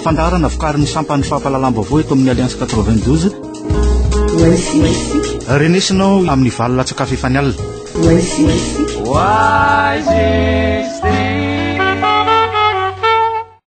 Fandaharana vokarin'ny sampan'ny fampahalalam-baovao eto amin'ny Alliance 92. Renesina ao amin'ny valo latsakafo efa nialina. Oasis.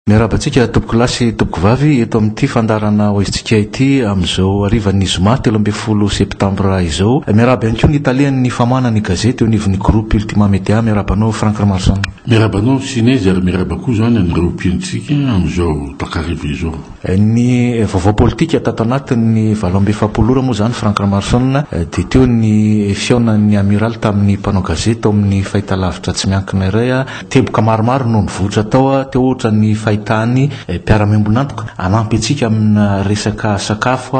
Miarahaba antsika tompokolahy sy tompokovavy eto amin'ity fandaharana hoaizintsika ity amin'izao harivan'ny zoma telo ambin'ny folo septambra izao. Miarahaba ihany koa ny talen'ny famahana ny gazety eo anivon'ny groupe Ultima Media. Miarahaba anao Franck Ramarison. Miarahaba anao Sinezy ary miarahaba koa izany an'ireo mpihainotsika amin'izao takariva izao. Ny vaovao politika tato anatin'ny valo amby efapolo ora moa izany Franck Ramarison dia teo ny fihaonan'ny Amiraly tamin'ny mpanao gazety tao amin'ny fahitalavitra tsy miankina iray. Teboka maromaro no nivoitra tao teo ohatra ny fahitany mpiara-miombon'antoka hanampy antsika amina resaka sakafo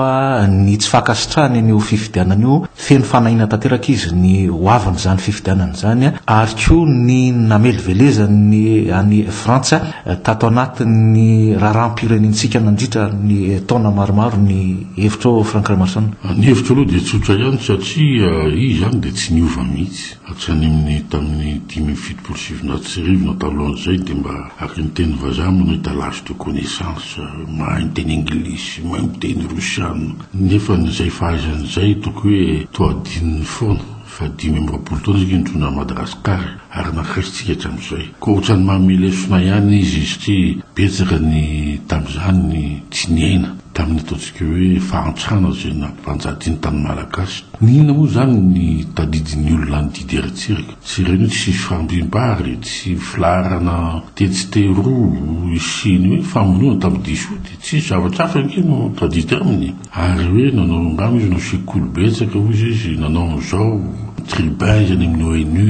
ny tsy fankasitrahany an'io fifidianana io. Feno fanahiana tanteraka izy ny ho avin'izany fifidianana izany ary koa ny namelivelezany an'i Frantsa tato anatin'ny raharaham-pirenentsika nandritra ny taona maromaro ny hevitrao Franck Ramason? Ny hevitro aloha dia tsotra ihany satria izy izany dia tsy niova mihitsy. Atsaniminy tamin'ny dimy amby fitopolo sy sivinjato sy arivo na talohan'izay dia mba araka ny teny vazaha manao étalage de connaissance, mahay miteny anglisy, mahay miteny rosiana, nefa izay fahaizany izay toky hoe toa adinony foana fa dimy amby roapolo taona isika nitondra an'i Madagasikara ary nankaisintsika hatramin'izay. Koa ohatrany mamelesona ihany izy satria betsaka ny tamin'izany ny tsy niaina. Tamin'ny ataontsika hoe fahantrana izay nampifanjadiany tamin'ny Malagasy. N'inona moa izany ny tadidin'ny olona any didy eran-tsiraka? Tsy ireny hoe tsy fifandriam-bary, tsy filaharana tetsy teroa sy ny hoe famonoana tamin'ny diso io dia tsisy zavatra hafa ange no tadidy aminy. Ary hoe nanao angamba izy no sekoly betsaka hoy izy nanao an'izao, ny tribuns any amin'ny ONU,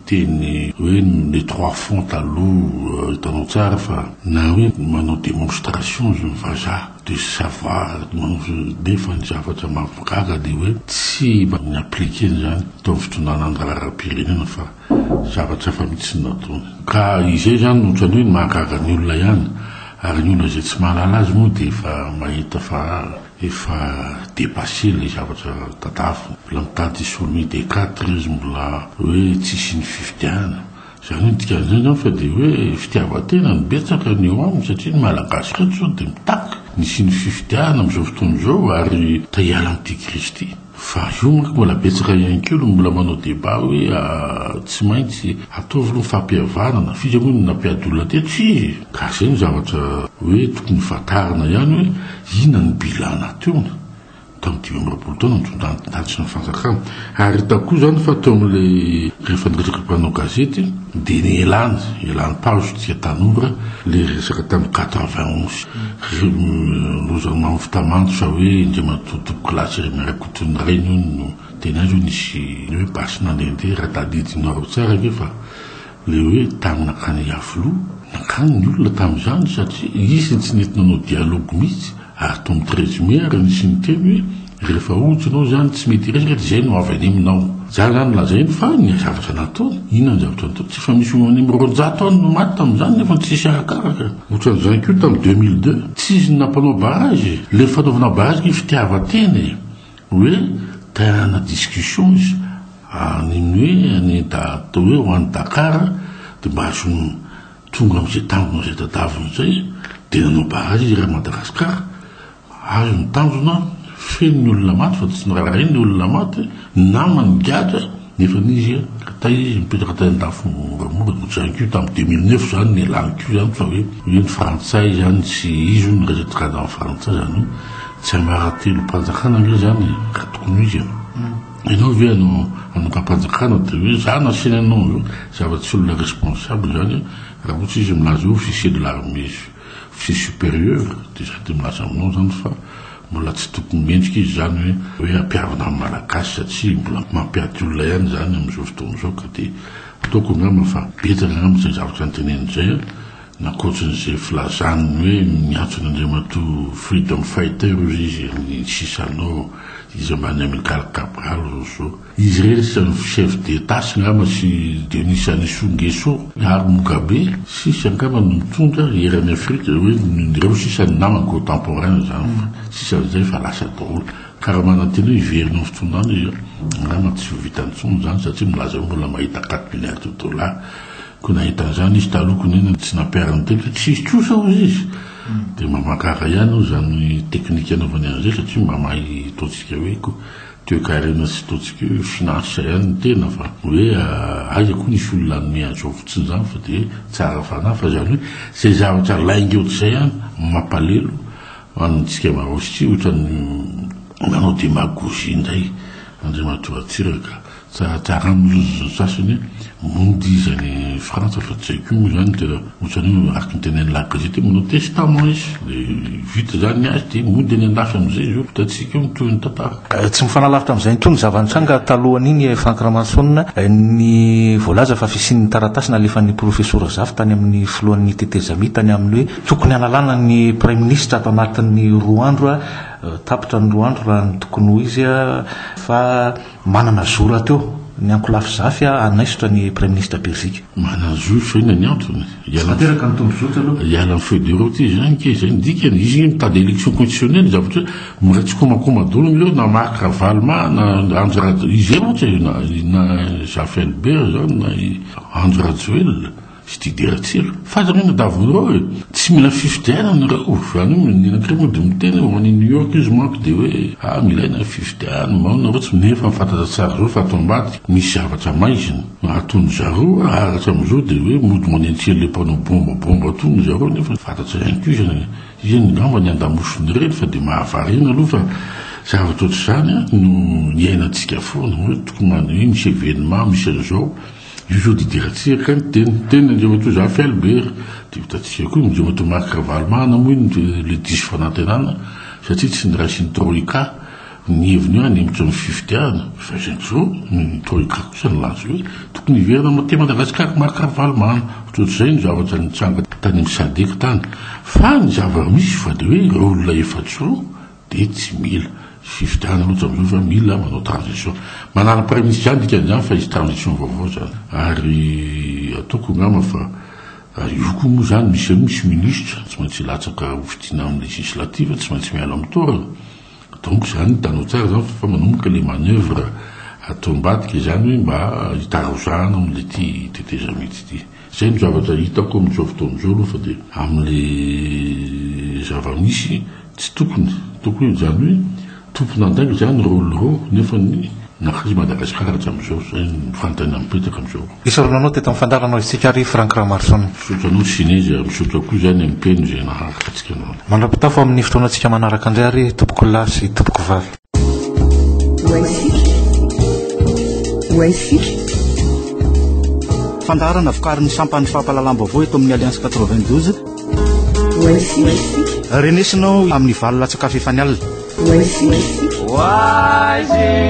Teny hoe les trois fonds taloha hitanao tsara fa na hoe manao demonstration izy ny vazaha de savoir nefa ny zavatra mahagaga de hoe tsy mba mi appliquer an'izany teo amin'ny fitondrana an-draharaham-pirenena fa zavatra hafa mihitsy no nataony ka izay izany no ohatran'ny hoe mahagaga ny olona ihany ary ny olona izay tsy mahalala azy moa dia efa mahita fa Efa depasse ilay zavatra tadavina. Mbola mitady sommet des quatre izy mbola hoe tsisy ny fifidianana. Izany hoe ny dikan'izay angamba fa dia hoe fitiavan-tena no betsaka ny eo aminy satria ny Malagasy ireto izao dia mitaky ny hisian'ny fifidianana amin'izao fotoana izao ary ta hiala amin'ity crise ity. Fa eo manko mbola betsaka ihany koa no mbola manao débat hoe tsy maintsy ataovy aloha ny fampihavanana, fika moa no nampiady olona teto fie? Ka zay no zavatra hoe tokony fantarina ihany hoe inona no bilan nateony tamin'ny dimy amby roapolo taona nitondran-dRajoelina ny fanjakana. Ary hitako koa zany fa teo amin'ilay rehefa niresaka mpanao gazety dia nielany, elan'ny paozy isika tanora ilay resaka tamin'ny quatre vingt onze. Lozan Mamy Fitamanto sa hoe Indriamatoa Tompoko Lahy Jeremie Rakotonirainy hono no teny azy hono nisy ny hoe basy nandehandeha raha tadidinareo tsara ve fa le hoe tany nankany Iavoloha nankany ny olona tamin'izany satria izy tsy nety nanao dialogue mihitsy ary Tommy Treizimer nisy niteny hoe Rehefa ohatra ianao izany tsy mety hiresaka dia izay no avy any aminao. Za zany no lazainy fa ny zavatra nataony, inona ny zavatra nataony, tsy efa misy olo any amin'ny roanjato any no maty tamin'izany nefa ny tsisy arakaraka. Ohatran'izany koa tamin'ny deux mille deux, tsy izy no nampanao barrage e, ilay fanaovana barrage kay fitiavan-tena e, hoe te hanana discussion izy any amin'ny hoe any da atao hoe ho any Dakar dia mba azony tonga amin'izay tanjona izay tadaviny izay dia nanao barrage izy eran'i Madagasikara. Ary ny tanjona, feno ny olona maty fa tsy nararainy ny olona maty, ny namany nigadra, nefa izy ka tay izy mipetraka tay an-dafy moramora, ohatran'ny ko tamin'ny deux mille neuf zany ny lany ko zany fa hoe hoe ny frantsay zany tsy izy hono resaky karazan'ny frantsay zany hoe tsy ambaratelom-panjakana ange zany e, ka tokony ho izy e, ianao ve hanao hanongam-panjakana de hoe za nasiana anao, zava-tsy olona responsable zany raha ohatra izy milaza hoe officier de l'armée. Tsy supérieur dia sady milaza aminao izany fa mbola tsy tokony mendrika izy izany hoe hoe hampihavana amin'ny Malagasy satria mbola mampiaty olona ihany izany amin'izao fotoana izao ka dia ataoko angamba fa betsaka angamba izay zavatra noteneniny izay an! n'ankoatran'izay filazany ny hoe miantso an' Andriamatoa freedom fighter hozy izy ny sisa anao izy ambany Amilcar Cabral, Rousseau. Izy ireny sisa ny chef d'Etats angamba sy Denis Sanisou Nguesso ary Mugabe sisa angamba no mitondra eran'i Afrika hoe ireo sisa ny namany contemporains zany fa sisa an'izay efa lasa daholo ka raha manantena hoe hiverina amin'ny fitondrana izy angamba tsy ho vitany intsony zany satria milaza hoe mbola mahita quatre milliards de dollars koa nahita an'izany izy taloha koa nefa tsy nampihariny teny fa tsisy kosa hozy izy dia mba mankahala ihany hoy izany technique anaovany an'izay satria mba mahay ataontsika hoe ko Toekarena tsy ataontsika hoe finaritra ihany ny tena fa hoe aiza koa nisy olona nanome an'izao fotsin'izany fa dia tsara fanahy fa izany hoe izay zavatra lainga eo tsy izay ihany no mampalelo antsika maraositria ohatran'ny manao demagogie indray Andriamatoa Ratsiraka. Zaradrara milozona sasany mody izy any Frantsa fa tsy haiko moa izany tena ohatrany hoe araka ny tenenin'ny La Gazette hoe manao testament izy dia vita izany ny azy dia mody any an-dafy amin'izay izy eo. Hitantsika eo ny tohin'ny tantara. Tsy mifanalavitra amin'izay intsony ny zava-nitranga talohan'iny Franck Ramanson ny voalaza fa fisian'ny taratasy nalefan'ny Profesora Zafy tany amin'ny filohan'ny tetezamita tany amin'ny hoe tokony hanalana ny Praiminisitra ato anatin'ny roa andro tapitra ny roa andro raha ny tokony ho izy fa Manana zo rahateo ny ankolafy zafy hanaisotra ny Praiminisitra Belzika. Manana zo sao inona ny antony? Tsy tanteraka ny tombozotra aloha. Hiala amin'ny feuille de route izy izany kay, izay no dikany. Izy io mitady élection constitutionnelle, zavatra hoe mbola tsy komankoma daholo ny ireo na Marc Ravaloma na Andry Rajo-, izay mantsy na i Zafy Albert izany na i Andry Rajoelina. Fididiana tsilo. Fantany hoe madavo ireo e. Tsy mila fifidianana ireo. Zany hoe ny anankiray mody miteny hoe ho any New York izy manko dia hoe ah mila ilaina ny fifidianana, maona ireo tsy nefa efa fantatra tsara izao fa ato ambadika misy zavatra maizina. Aton'ny zareo ary hatramin'izao dia hoe mody manentsely ilay mpanao bomba bomba aton'ny zareo nefa fantatra ihany koa izy. Iany ngamba ny andamosiny ireny fa dia mahavariana aloha fa zavatra ohatr'izany no iainantsika foana hoe tokony hoe misy evenement misy an'izao. Io zao dia tena tsy eka ny teny, teny ny andriamatoa Zafy Albert, dia hotantsika koa ny andriamatoa Marc Ravalomanana moa iny ilay diso fanantenana satria tsy noraisin'ny troika ny heviny hoe hanempotra ny fifidianana, fa izay indray izao ny troika kosa nilaza hoe tokony hiverina aty Madagasikara i Marc Ravalomanana, ohatr'izay no zavatra nitranga tany amin'ny Sadec tany, fa ny zava-misy fa dia hoe ireo olona efajoro. Dia tsy mila fifidianana loatra amin'izao fa mila manao transition. Manala praiminisitra ihany dikan'izany fa hisy transition vaovao izany. Ary ataoko angamba fa io koa moa izany misy aloha misy minisitra tsy maintsy hilatsaka ho fidiana amin'ny législative tsy maintsy miala amin'ny toerana. Donc izany hitanao tsara izany fa manomboka ilay manoeuvre atao ambadika izany hoe mba hitarozahana amin'ity tetezamita ity. Izay no zavatra hitako amin'izao fotoana izao aloha fa dia amin'ilay zava-misy tsy tokony, tokony izany hoe tompon'andraikitra izany ny rôle rô nefa ny nakaiza i Madagasikara hatramin'izao, izay no fanontaniana mipetraka amin'izao. Esorina anao teto amin'ny fandaharana isika ary Franck Ramaroson. Misaotra anao Sinezy ary misaotra koa izany amin'ny mpino izay naharitra antsika androany. Mandra-pitafo amin'ny fotoanantsika manaraka indray ary Tompokolahy sy Tompokovavy. Fandaharana vokarin'ny sampan'ny fampahalalam-baovao eto amin'ny Alliance 92. Renesina ao amin'ny valo latsakafo efa ny alina. Oasis.